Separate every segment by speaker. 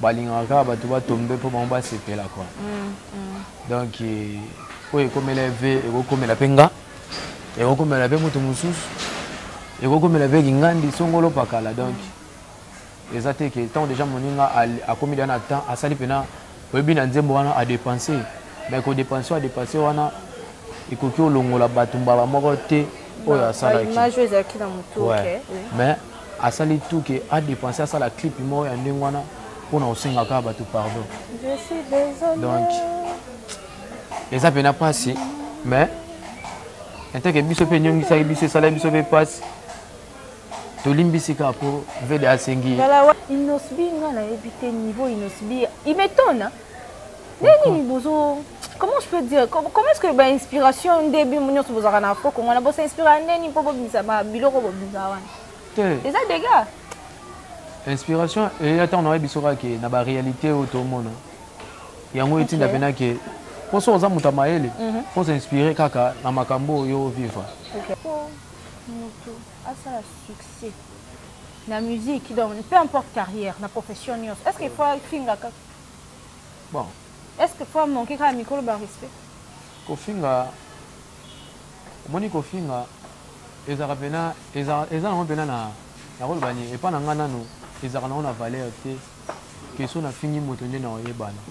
Speaker 1: balingaka kaka bato batombe mpo bango basepela kua mm, mm. donc eh, oyo ekomela ve ekokomela mpe nga ekokomela mpe moto mosusu ekokomela mpe kingandi songolo pakala donc eza te ke ntango deja moninga akomi deja na temps asali mpena oyebi na nzembo wana adepense mai kodepense oyo adepense wana ekoki olongola bato mbala moko te oyo asalaki mais asali tout ke a dépenser asala clip moko ya ndenge wana mpo na kosenga kaka bato pardon donc eza mpena mpasi mais enteke biso mpe enyongisaki biso esalaki biso mpe mpasi tolimbisi kaka mpo vede asengi inosbi
Speaker 2: nga nayebi te niveau inosbi imetona ndenge nini bozo comment je peux dire comment est-ce que ba inspiration nde bino nyonso bozalaka na afro congo na bosa inspira ndeni mpo bobimisa biloko bobimisa wana te eza dega
Speaker 1: inspiration eya ntango nayebi biso kaka ke na baréalité oyo tomona yango etinda mpena ke mpo soki oza moto ya mayele mhm. mpo s'inspire kaka na makambo oyo ovivre moto
Speaker 2: asala succès na musique donc peu importe carrière na profession nyonso est ce que faut afingaka bon
Speaker 1: est ce que
Speaker 2: faut manquer kaka mikolo ba respect kofinga
Speaker 1: omoni kofinga ezalaka mpena eza nango mpena na nakoloba nini epai na ngai nano ezalaka nango na valeur te keso nafingi moto nde na oyebana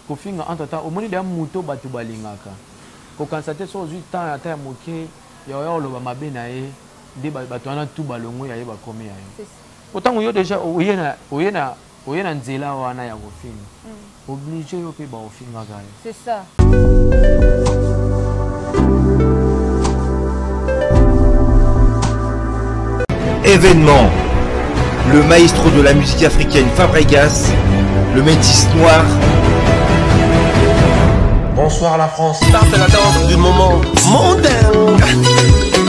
Speaker 1: kofinga entre temps omoni deya moto bato balingaka kokanisa te soki ozwi temps ata ya moke ya oya koloba mabe na ye nde bato wana tu balongo ya ye bakomi ya ye mpo ntango yo deja oye na Oye na nzela wana ya kofinga. Mm. Oblige yo pe ba ofinga ga yo. C'est ça.
Speaker 3: Événement. Le maestro de la musique africaine Fabregas, le métis noir,
Speaker 4: Bonsoir la France. Ça c'est la danse du moment. Mon dingue.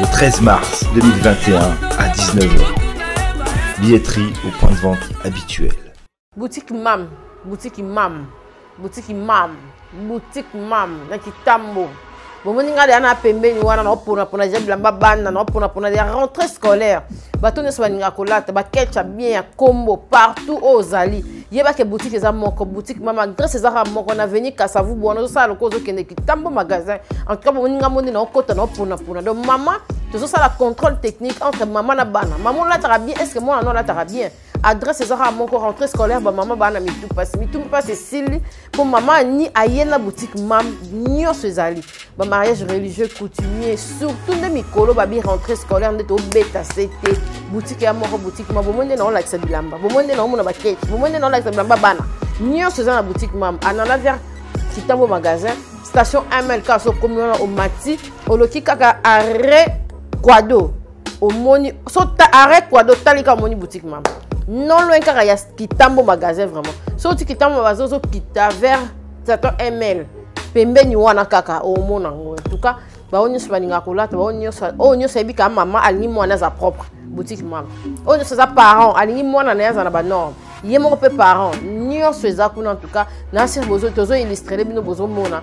Speaker 3: Le 13 mars 2021 à 19h. Billetterie au point de vente habituel. Boutique
Speaker 5: Mam, boutique Mam, boutique Mam, boutique Mam, na Kitambo. bomoni ngai deya na pembeni wana naoponapona deja bilamba bana naoponapona deya rentrée scolaire bato nyonso balingaka kolata bakelcha bien ya kombo partout oyo ozali yeba ke boutique eza moko boutique mama grace ezaka moko na veni kasavu bwana ozosala lokola ozokende kitambo magasin en tout cas bomoni nga moni naokota naoponapona donc mama tozosala contrôle technique entre mama na bana mama olataka bien est ce que mwana no alataka bien adresse ezaka moko rentrée scolaire bamama bana mitu mpasi mitu mpasi esili mpo mama ni aye na boutique mam nyonso ezali bamariage religieux coutumier surtout nde mikolo babi rentrée scolaire nde tobeta se te boutique ya moko boutique ma bomoi nde naolakisa bilamba bomoi nde naomona bakeke bomoi nde naolakisa bilamba bana nyonso eza na boutique mam anana vers kitambo magasin station mlk sokomi wana omati oloki kaka arret quado omoni so arrête quoi do talika omoni boutique mama non loin kaka ya kitambo magasin vraiment so ti kitambo bazozo kita vers 7 ml pembeni wana kaka omona yango en tout cas baoyo nyonso balingaka kolata baoyo nyonso oyo nyonso ayebi kaka mama alingi mwana aza propre boutique mama oyo nyonso aza parent alingi mwana na ye aza na banorme ye moko mpe parent nyonso eza kuna en tout cas na sir bozo tozo illustrele bino bozomona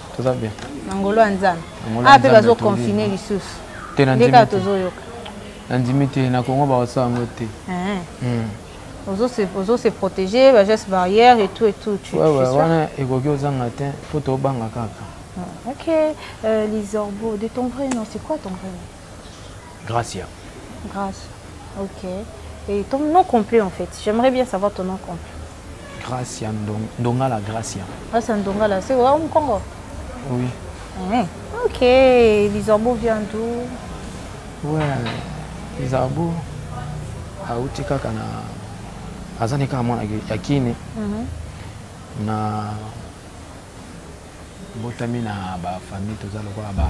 Speaker 1: toza bien na ngolo ya nzambe
Speaker 2: awa mpe bazoconfine lisusu nde kaka tozoyoka
Speaker 1: nandimi te na kongo bakosala yango te eh. hmm.
Speaker 2: ozo se protéger bageste barrière et tout et tout wana ekoki
Speaker 1: ozanga te mpo tobanga kaka ah, ok euh,
Speaker 2: lisorbo de ton vrai nom c'est quoi ton vrai nom Gracia.
Speaker 1: Gracia.
Speaker 2: Ok. Et ton nom complet en fait J'aimerais bien savoir ton nom complet. Gracia
Speaker 1: Ndong Ndongala Gracia. Gracia Ndongala,
Speaker 2: c'est au Congo Oui.
Speaker 1: Mmh.
Speaker 2: Ok. Lizarbo vient d'où
Speaker 1: Ouais. Lizarbo. auti kaka na aza nde kaka mwana ya kine mhm. na botami na ba famille toza lokola ba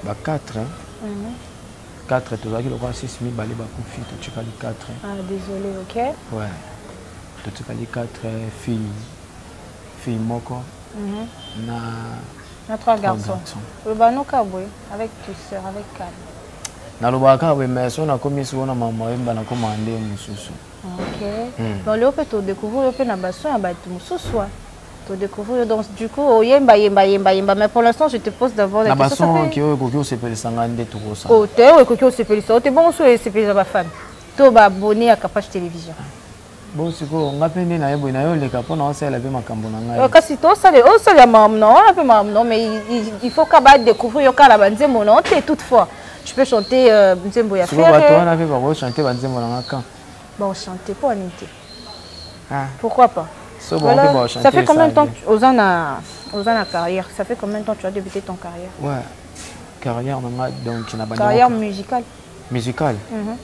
Speaker 1: ba 4 mm. 4 tozalaki lokola 6 mibale bakufi totikali 4 ah, désolé
Speaker 2: ok ouais
Speaker 1: totikali 4 fille fille moko mm -hmm. na
Speaker 2: na trois garçons oloba noka boye avec tu sœur avec calme nalobaka
Speaker 1: kaka boye mais so nakomi siko na mama yemba nakomaka nde mosusu ok
Speaker 2: mm. mais olio mpe todécouvrir yo mpe na baso ya bato mosusu To découvrir yo donc du coup oyemba yemba yemba yemba mais pour l'instant je te pose d'abord la question. Na bason ki oyo ekoki
Speaker 1: osepelisa ngai nde tokosa. Oh te oyo ekoki osepelisa
Speaker 2: yo te bongo so esepelisa ba fan to ba abonné ya Kapash télévision. Bon
Speaker 1: sikoyo ngai mpe nde naye boye naye oleka mpo na osalela mpe makambo na ngai. Kasi tosalela osalela
Speaker 2: makambo na wana mpe makambo na mais il faut ka ba découvrir yo kaka na banzembo na yo te toutefois. tu peux chanter euh, nzembo ya ferre bato wana mpe bakochanter
Speaker 1: banzembo na nga quand bakochanter
Speaker 2: mpo anini te
Speaker 1: Ah. Pourquoi pas
Speaker 2: so voilà, bon, Ça fait combien de
Speaker 1: temps que
Speaker 2: Ozan a, Ozan a carrière Ça fait combien de temps que tu as débuté ton
Speaker 1: carrière Ouais, carrière donc tu n'as pas Carrière musicale
Speaker 2: Musicale
Speaker 1: mm -hmm.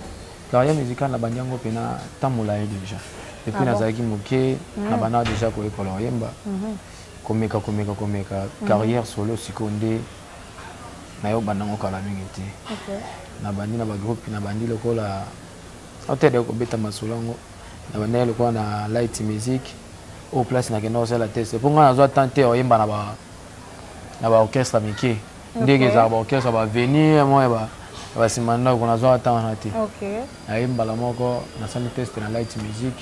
Speaker 1: Carrière musicale na bandiango pena tamola déjà. Et puis ah nazalaki bon. moke mm. na bana déjà ko école oyemba. Mm -hmm. Komeka komeka komeka mm -hmm. carrière solo sikonde na yo banango kala mingi te. Okay. Na bandi na ba groupe na bandi lokola Auteur ya kobeta masolo yango na banda ya lokola na light music au place na kenda kosala test mpo ngai nazwa temps te oyemba na ba na ba orchestre mike ndenge ezalaka ba orchestre ba venir mwa ya ba basima ndako nazwaka temps wana te naye
Speaker 2: mbala moko
Speaker 1: nasali test na light music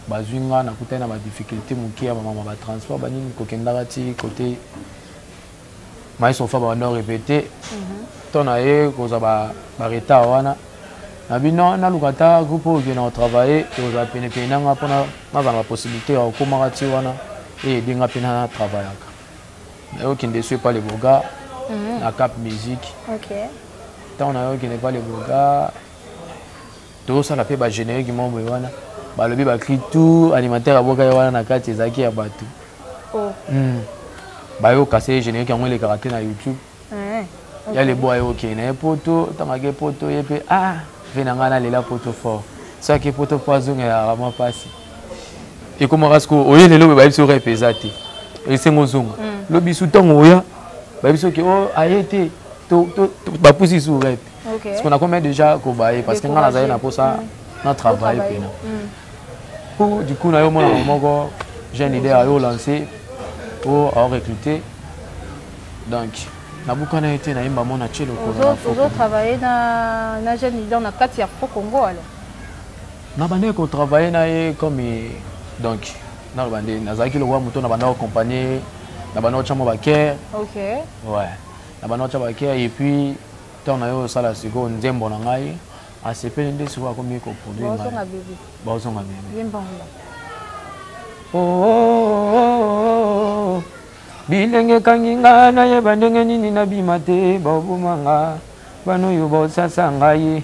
Speaker 1: bazwi nga nakutani na badifficulté moke ya bamama batransport banini kokendaka ti kote maestro fa babanda orepete nto na ye kozwa baretard wana na bino naluka ata groupe oyo okende kotravaille ekozala penepene na nga mpona nazala na bapossibilité ya kokomaka ti wana eyede nga mpe na travaillaka naye okende esu epa leboga mhm. na cap musique ntango
Speaker 2: naye
Speaker 1: okende epa leboga tozosala mpe bagénérique moko boye wana balobi bakri tout animateur aboka ye wana na kati ezalaki ya bato oh. hmm. bayoka se générique yango elekaka te na youtube eh, ya lebo aye okei na ye poto ntango ake poto ye mpe a ah, ve na ngai nalela poto fort so ake poto mpo azongela rama mpasi ekomaka sikoyo oye lelo boye bayebisi orepe eza te esengo ozonga hmm. lobi su ntango oya bayebisi oke o oh, aye te bapusi su repe okay. parce que nakomai
Speaker 2: déjà
Speaker 1: kobaye parce que ngai nazali na mposa mm. na travaille mpena mm. po du coup na yo mwana moko jeune idée ayo lance po ao recrute donc nabukana ye te nayemba mona tie lokoloozotravaille
Speaker 2: na, na jeune leader na kati ya pro congo alors
Speaker 1: nabandaki kotravaille na ye comme donc naloba nde nazalaki lokola moto nabandaki kocompagne nabandaki kotya mwa bakere okay.
Speaker 2: ouais.
Speaker 1: na bana otya bakei epuis ntango na yo osala sikoyo nzembo na ngai asepeli nde sikoyo akomi koproduireozonga
Speaker 2: bebe oh, oh,
Speaker 1: oh, bilenge ekangi nga nayeba ndenge nini nabima te baoboma nga bana oyo baosasa ngai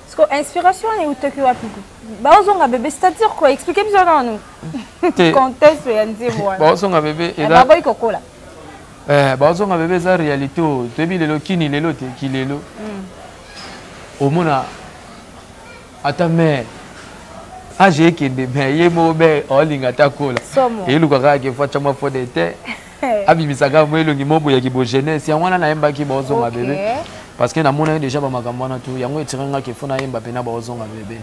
Speaker 1: Siko inspiration
Speaker 2: wana eutaki wapi ko? Baozonga bebe, c'est-à-dire quoi? Expliquez biso nanu. Te. Contexte ya nzembo wana. Baozonga bebe eh, eza.
Speaker 1: Baboyi kokola.
Speaker 2: Eh,
Speaker 1: baozonga bebe eza réalité oyo. Toyebi lelo kini lelo te ki lelo. Hmm. Omona ata mère age ekende me ye moko be olinga ata kola eyeluka kaka ke fo atya mwa fode te abimisaka mwa elongi moko ya kibo jeunesse yango wana nayembaki baozonga bebe parce que namonaki déjà bamakambo wana tu yango etire nga kefo nayemba mpe na baozonga bebe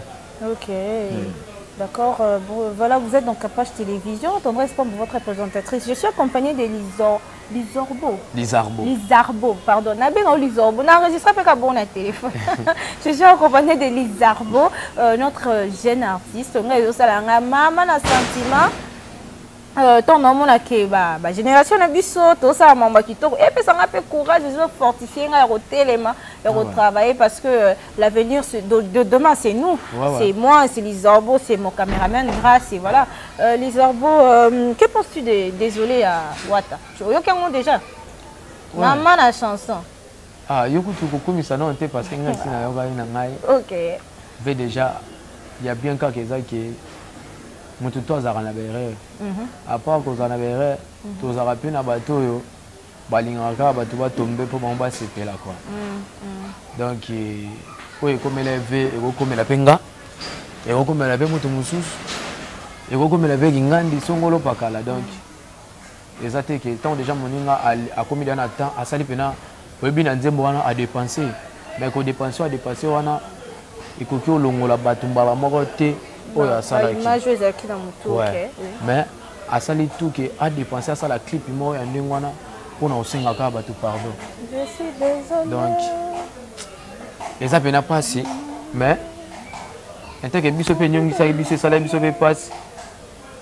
Speaker 1: ok
Speaker 2: hmm. D'accord. Euh, voilà, vous êtes donc à Page Télévision. Tendresse pour votre présentatrice. Je suis accompagnée de Lison. Lizorbo. Lizarbo. Lizarbo, pardon. Nabé non Lizorbo. N'a enregistré pas bon à téléphone. Je suis accompagnée de Lizarbo, euh, notre jeune artiste. On a eu ça là, maman, un sentiment. Euh, ntango naomona ke bagénération na biso tosala mambo ya kitoko epesa ngai mpe courage ezo fortifie ngai ya kotelema ya ah kotravailler parce que euh, l'avenir de demain c'est nous c'est moi c'est lisorbo c'est mon caméraman grace et voilà euh, lisorbo que penses-tu de désolé ya wata oyoki yango déjà mama na chanson ah, yo
Speaker 1: kutu kokumisa nao te parce que ngai si nayokaki na ngai ok
Speaker 2: ve déjà
Speaker 1: ya bien kaka eza ke moto to azalaka na baerreur mhm. apart kozala na baerreur mhm. tozalaka mpe na bato oyo balingaka kaka bato batombe mpo bango basepela kua mhm, donc eh, oyo ekomela ve ekokomela mpe nga ekokomela mpe moto mosusu ekokomela mpe kingandi songolo pakala donc eza te ke ntango deja moninga akomi deja na temps asali mpena oyebi na nzembo wana adepense mai kodepense oyo adepense wana ekoki olongola bato mbala moko te oyo asalaki mais asali tout ke adepense asala clip moko ya ndenge wana mpo na kosengaka bato pardon
Speaker 2: donc
Speaker 1: eza mpena mpasi mais enteke biso mpe enyongisaki biso esalaki biso mpe mpasi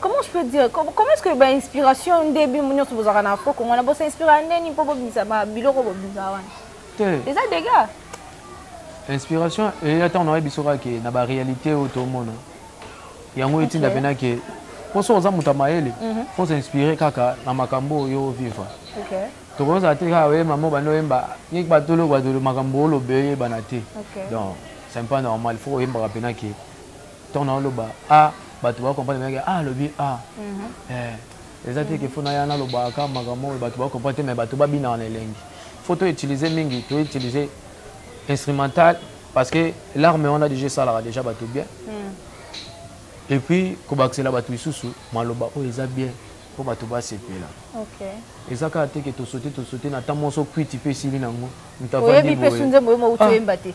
Speaker 2: comment je peux dire comment est-ce que ba inspiration nde bino nyonso bozalaka na afro kongo na bosa inspira ndeni mpo bobimisa biloko bobimisa wana te eza dega
Speaker 1: inspiration eya ntango nayebi biso kaka ke na baréalité oyo tomona yango etinda mpena ke mpo soki oza moto ya mayele mhm. fo s'inspire kaka na makambo oyo ovivre
Speaker 2: tokozala te
Speaker 1: kaka oye mama obanda oyemba yeki batolo batolo makambo olobe oyebana te donc c'est pas normal fo oyembaka mpena ke ntango naoloba a bato bakomprendre meke a alobi a eza te ke fo naya nalobaka makambo oyo bato bakomprendre te mai bato babinaka na elengi fo to utilise mingi to utilise instrumental parce que larme wana deja esalaka deja bato bien et puis kobakisela bato lisusu maloba oyo eza bien mpo bato basepela
Speaker 2: eza kaka te ke
Speaker 1: tosote tosote na ntan moso kwiti mpe esili nango moto avandi
Speaker 2: boye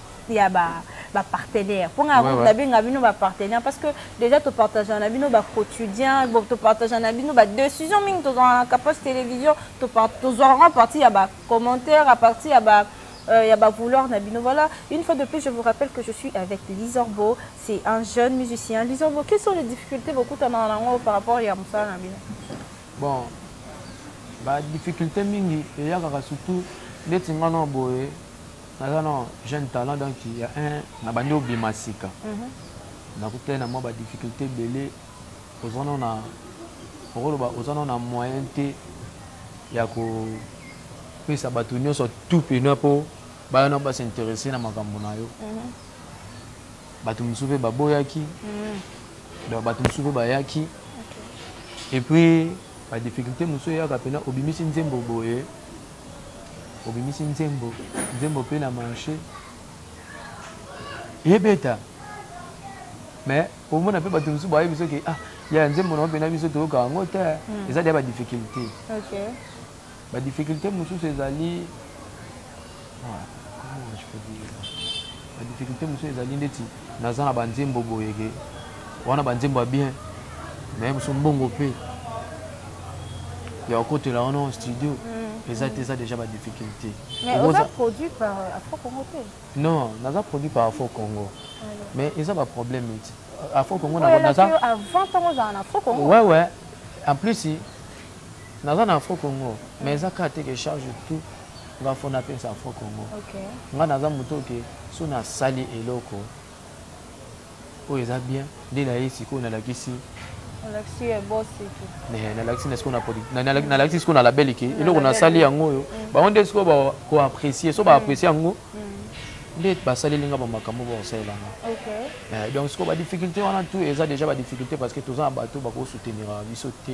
Speaker 2: ya ba ba partenaires mpo ngai ouais, nabenga bino ba partenaires parce que déjà topartagea na bino ba quotidien topartagea na bino ba décision mingi tozwaka na capage télévision tozwaka en partie ya ba commentaire à partir ya ba euh, ya ba vouloir na bino voilà une fois de plus je vous rappelle que je suis avec Lizorbo c'est un jeune musicien Lizorbo quelles sont les difficultés bokutanaka na yango par rapport ya mosala na bino bon
Speaker 1: ba difficulté mingi eyakaka surtout ndeti ngana boye naza na jeune talent donc ya un na bandi obima sika mhm. nakutani na mwa ba difficulté ebele oza no na okoloba oza no na moyen te ya kopesa bato nyonso tout pena mpo baya na basinteresse na makambo na yo mhm. bato mosusu mpe baboyaki mhm. donc bato mosusu mpe bayaki epuis badifficulté mosusu eyaka mpena obimisi nzembo boye obimisi nzembo nzembo mpe na marché ebeta mais omona mpe bato mosusu bayebi soki ah ya nzembo na mpena biso toyoka yango te hmm. eza deya badifficulté badifficulté mosusu ezali ah, ba difficulté mosusu ezali ndeti naza na banzembo boyeke wana banzembo ya bien mais mosusu mbongo mpe ya okotela wana studio mm. eza te eza déjà ba difficulté
Speaker 2: non naza produit
Speaker 1: par afo congo mais eza ba problème eti afo congo naza
Speaker 2: ouais ouais en
Speaker 1: plus naza na afo congo mais eza kaka te ke charge tout nga fo napesa fo congo nga naza moto oke so nasali eloko oyo eza bien nde na ye sikoyo nalakisi nalakisi sikoyo na label ke eloko nasali yango oyo mm. bango nde sikoyo bakoapprécie so baapprécie mm. yango mm. nde basaleli nga bamakambo bakosalela nga eh, donc sikoyo badifficulté wana tout eza déjà badifficulté parce que toza na bato bakosoutenira biso te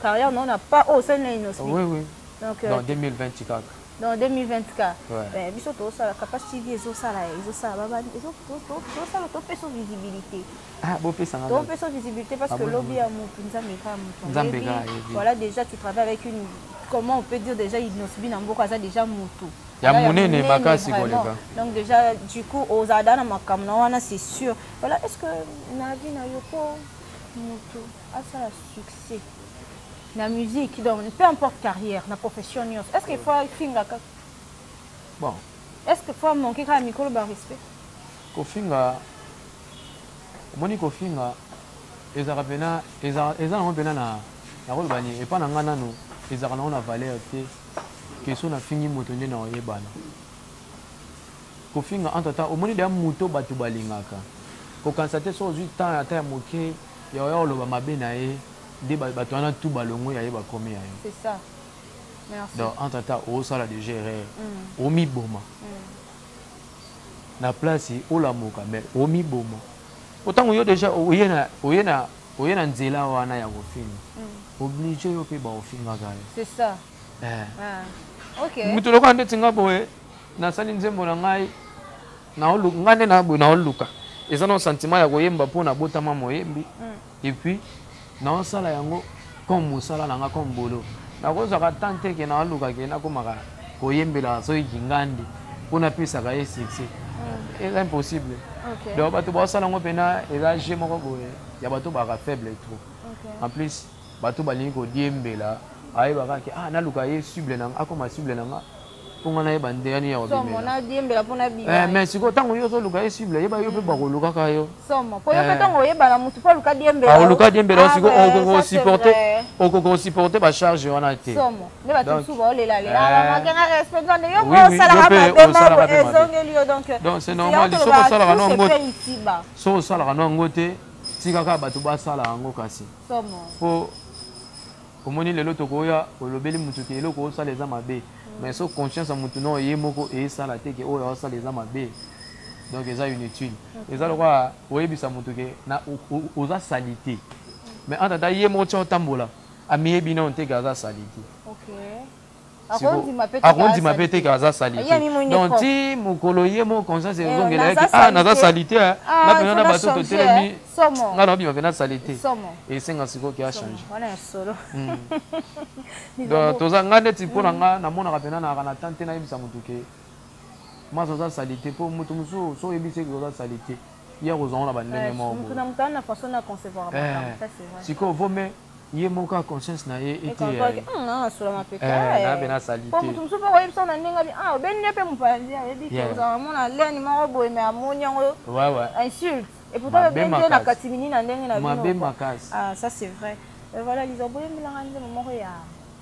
Speaker 2: carrière non na pas oyo osali na innosbi oui oui donc
Speaker 1: euh, dans 2020
Speaker 2: kaka dans 2020 ka eh, biso tozosala capage tv ezosala ezosala babani tozosala topesa visibilité ah, topesa
Speaker 1: visibilité parce ah,
Speaker 2: que lobi ya motu nzambe kaka motu voilà déjà tu travailles avec une comment on peut dire déjà innosbi na mboka aza déjà motu ya monene
Speaker 1: makasi koleka donc déjà du
Speaker 2: coup ozala da na makambo na wana c'est sûr voilà est ce que na vie na yo po motu asala succès na musique donc peu importe carrière na profession nyonso est ce que fois finga kaka
Speaker 1: bon est ce que
Speaker 2: fois manque kaka mikolo ba respect kofinga
Speaker 1: omoni kofinga ezalaka mpena eza nango mpena na nakoloba nini epai na ngai nano ezalaka nango na valeur te keso nafingi moto nde na oyebana kofinga entre temps omoni deya moto bato balingaka kokanisa te so ozwi temps ata ya moke ya oya koloba mabe na ye nde bato wana tu balongwe ya ye bakomi ya yo
Speaker 2: donc entre temps
Speaker 1: osala deja erreur mm. omiboma mm. na place olamuka mais omiboma po ntango yo deja oye na nzela wana ya kofinga mm. oblige yo mpe baofingaka yo eh. ah.
Speaker 2: moto lokola ndeti
Speaker 1: nga boye nasali nzembo na ngai naoluka nga nde na boye naoluka eza na sentiment ya koyemba mpo nabotama moyembi et puis naosala yango comme mosala na nga comme bolo nakozwaka temps te ke naoluka ke nakomaka koyembela soki kingandi mpo napesaka ye succès hmm. eza impossible donc bato baosala yango mpena eza ge moko boye ya bato baka faible trop en plus bato balingi kodiembela ayebaka ke ah naluka ye cible na nga akoma cible na nga mpongo na ye banzela nini ya kobimela
Speaker 2: mais sikoyo ntango yo ozoluka
Speaker 1: ye cible yeba yo mpe mm. bakolukaka yo
Speaker 2: oluka diembela yo sikoyo
Speaker 1: okokosupporte okokosupporte bacharge wana
Speaker 2: te soki
Speaker 1: osalaka no yango te tika kaka bato basala yango kasi po Omoni lelo tokoya olobeli mutu ke eloko osala eza mabe mais so conscience ya mutu nao ye moko esala te ke oyo aosala eza mabe donc eza inutile eza lokola oyebisa mutu ke na oza salite mais en tata ye moko tia otambola amiyebi nao te
Speaker 2: ke aza
Speaker 1: salite okay. akondima mpe te ke aza salite donc ti mokolo ye moko conscience eh, ezongela yaki a ah, naza salite eh. ah, na mpena na bato totelemi eh. ngai naobima mpena salite esenga sikoyo ke achange hmm. donc toza ngai neti mpo na hmm. ngai namonaka mpena nayaka na temps te nayebisa motu ke masa oza salite mpo moto mosusu so oyebisi eke oza salite ye akozwango na bandenge moko sikoyo vome ye moko conscience na ye eteyaye nabe na salitemoto mosusu mpe koyebisa
Speaker 2: na ndenge abi ah obeni nde mpe mopanzi ayebi te ozala mona leni moko boye me amoni yango insulte et pourtant obeni nde na katimini na ndenge na bino ah ça c'est vrai euh, voilà liza boyembelanga nzembo moko ya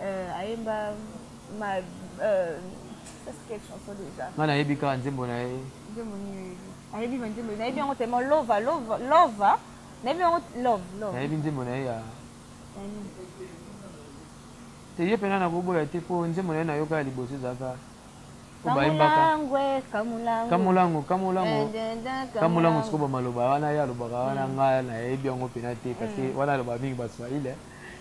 Speaker 2: Euh, ayemba ma euh, quelle chanson déjà nga nayebi kaka nzembo na
Speaker 1: ye nzembo nini
Speaker 2: ayebi banzembo nayebi yango tellement lova lova lova nayebi yango love love nayebi nzembo na ye ya
Speaker 1: te ye mpena nakoboya te mpo nzembo na ye nayoka ya liboso ezalaka kamulango kamulango kamulango sikoyo bamaloba wana ye alobaka wana mm. ngai nayebi yango mpena te parce mm. wana alobaka mingi baswahili eh.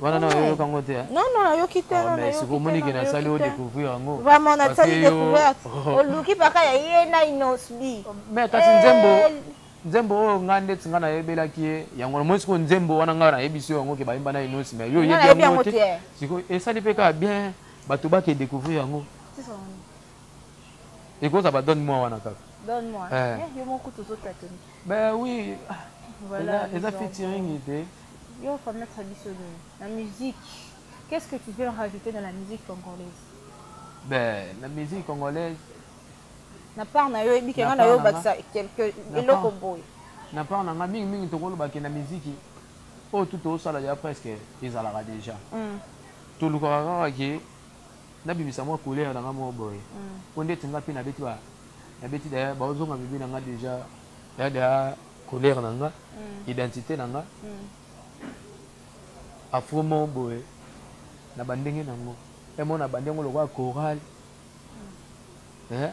Speaker 1: wana na yo yoka ngo te hein? non non nayoki te non
Speaker 2: mais siko moni ke na
Speaker 1: sali o découvrir yango vraiment na sali
Speaker 2: découvrir oluki baka ya ye na inosbi mais kasi eh, nzembo
Speaker 1: nzembo oyo nga nde tinga na yebelaki ye yango na mosi ko nzembo wana nga na yebisi yango ke bayimba na inosi mais yo yebi yango te siko esali pe ka bien bato ba ke découvrir yango ekoza ba donne moi wana kaka donne moi eh. eh,
Speaker 2: yo moko tozo tatoni ben oui
Speaker 1: ah, voilà
Speaker 2: eza featuring
Speaker 1: te Yo ko mettre
Speaker 2: biso nini na musique? Qu'est-ce que tu veux rajouter dans la musique congolaise? Ben,
Speaker 1: la musique congolaise na
Speaker 2: part na yo ebike nga na yo bakisa quelque eloko boye na part na nga
Speaker 1: mingi mingi tokoloba ke na miziki oyo tu tosala ya presque ezalaka déjà mm. tolukaka kaka ke nabimisa mwa couleur na nga moko boye mm. po ndeti nga mpe nabeti nabeti daya baozonga bibi na nga déjà dada Couleur na nga, identite na nga, afro moko boye na ba ndenge na ngo. He mona abandi yango lokola chorale. He,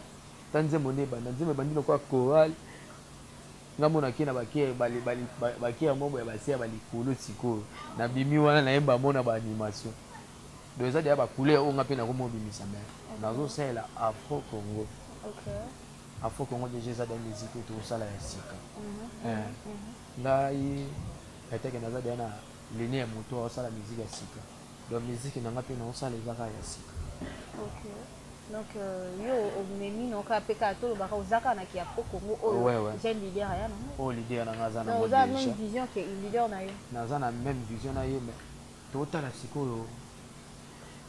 Speaker 1: ta nzembo nde ebanda, nzembo ebandi lokola chorale. Nga mona ke na ba ke ba ba ba ba ke yango ya base ya ba likolo sikoyo. Na bimi wana na yemba mona ba animation. Donc eza deja ba couleur oyo nga pe nako mobimisa mais nazo salela afro congo. Okay. Afro Congo deja eza daya musique oyo tokosala ya sika mhm. eh. mhm. ngai eteke naza daya na lene ya moto aosala musique ya sika donc musique na ngai mpe naosala eza kaka ya sika donc
Speaker 2: euh, yo omemi na okaa mpe kaka tolobaka oza kaka na ki afro congo oyo oza leader aya nango oyo leader na ngai aza na
Speaker 1: oza même vision ke
Speaker 2: leader na yo naza na même vision
Speaker 1: na ye mais totala sikoyo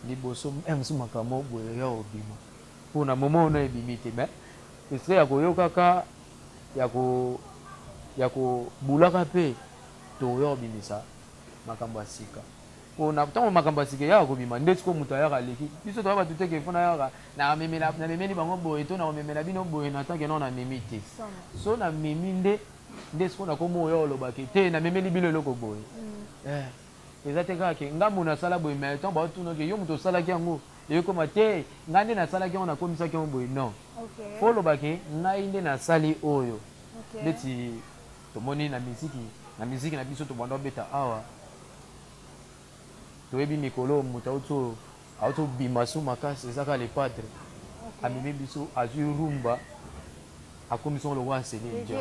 Speaker 1: liboso eh, mosu makambo boye ya obima Po na moment wana ebimi te mais estre ya koyoka ka ya ko ya ko bulaka pe toyo bimisa makambo ya sika po na tango makambo ya sika eyaka kobima nde siko moto ayaka aleki biso toya bato te ke fo nayaka na memela na memeli bango boye to na komemela bino boye na tanke non na memi te so na memi nde nde siko na komo oyo olobaki te na memeli bino eloko boye eh eza te kaka ke ngambo nasala boye mais ntango baotunaki yo moto osalaki yango Ekoma te ngai nde nasalaki yango nakomisaki yango boye non okay. fo oloba ke ngai nde nasali oyo okay. ndeti tomoni na miziki na miziki na biso tobanda obeta awa toyebi mikolo oyo moto auti oyo auti obima su makasi eza kaka le padre okay. amemi biso azwi rumba akomisi yango lokola nseli nja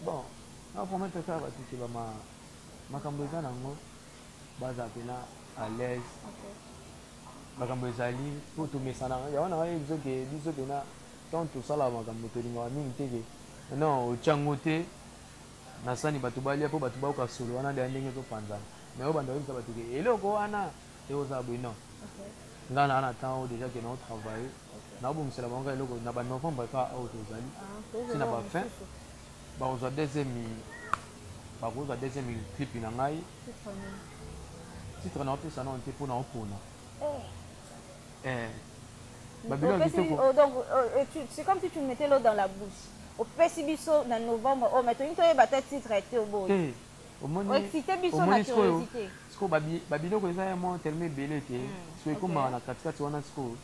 Speaker 2: Bon,
Speaker 1: na promettre kaka batu ke ba makambo eza nango baza pena à l'aise. Makambo ezali po tomesana. Ya wana oyebi biso ke biso pena tant tosala makambo tolingaka mingi te ke non otya ngo te na sani bato balya mpo bato bayoka solo wana deya ndenge ezopanzana mais oyo banda oyebisa bato ke eloko wana ekozala boye non ngai naa na temps oyo deja ke nao travaille naobongisela bango kaka eloko na ba novembre epa oyo tozali ti na ba fin bakozwa deuxième bakozwa deuxième clip na ngai titre naopesa nao te mpo naopona eh. eh.
Speaker 2: babiloko kitoko oh, donc euh, euh, c'est comme si tu mettais l'eau dans la bouche opesi biso na novembre oyo oh, mai tolingi toyeba ata titre te oboye oexcite biso na curiosité sikoyo
Speaker 1: babiloko eza ya mwa telema ebele te hmm, sikoyo ekomaka na katikati wana sikoyo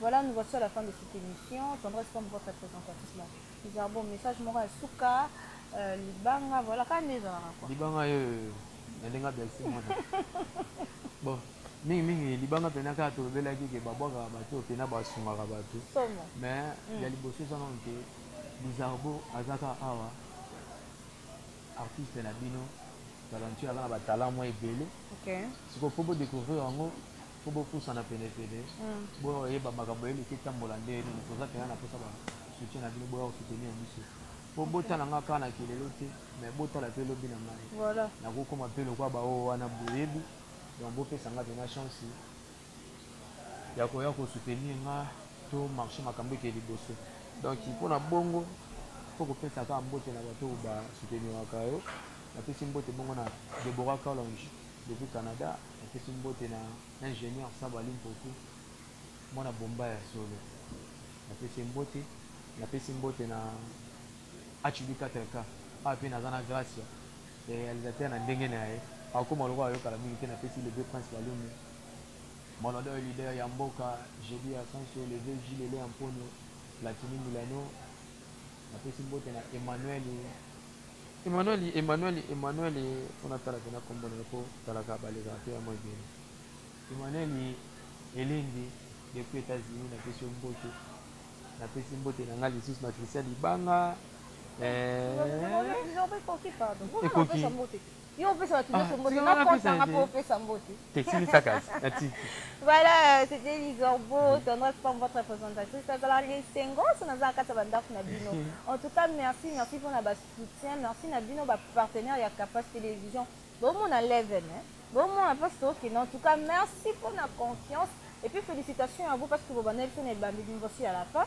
Speaker 2: Voilà nous voici à la fin de cette émission tendresse comme votre présentatrice là bizarre bon message moko ya suka euh, libanga voilà kaka nde ezalaka quoi libanga yo
Speaker 1: nalinga belsi mwana bon mingi mingi libanga mpena kaka tolobelaki ke babwakaka bato oyo mpena basungaka bato mais ya mm. liboso eza nano ke bizarbo azaka awa artiste na bino talentueux aza na batalant mwa ebele sikoyo mpo bodecouvrir yango faut bopusana pene pene boyeba makambo eleki etambola nde nini toza pena na posa ba soutien na bino boya kosoutenir biso po botala nga kaka na kelelo te mais botala pe lobi na ngai nakokoma pe lokwa baoyo wana boyebi donc bopesa nga pena chance ya koya kosoutenir nga to marche makambo eke liboso donc mpona bongo po kopesa kaka mbote na bato oyo basouteniraka yo napesi mbote bongo na deborah calonge depuis canada Napesi mbote na ingenieur Saba Limpopo, mwana bomba ya solo. Napesi ye mbote, napesi mbote na HB 4K, awa mpe naza na Gracia, le realisateur na ndenge na ye, akokoma lokola ayokala mingi te, napesi le vieux Prince Balumu, mon ado et leader ya mboka, JB Ascencio, le vieux Jules Lelea Mponyo, Platini Milano, napesi mbote na Emmanuel. Emmanueli Emmanueli Emmanueli po natala pena kombo na ye po talaka balekaka te ya moi beni. Emmanueli Elenge depuis Etats Unis napesi yo mbote napesi mbote na nga lisusu na Christian libanga eh, Ekoki. yo opesa bato nyonso ah, mbote
Speaker 2: nakonsa nga mpo opesa mbote voilà euh, c'était lisorbo mm-hmm. tendresse comme votre présentation ezalaka lesengo so naza na kati ya bandako na bino mm-hmm. en tout cas merci merci mpo na basoutien merci na bino bapartenaire ya capas télévision bomona leven bomona mpo sokende en tout cas merci mpo na confiance et puis félicitations à vous parce que bobandaki biso na ebandi liboso ya la fin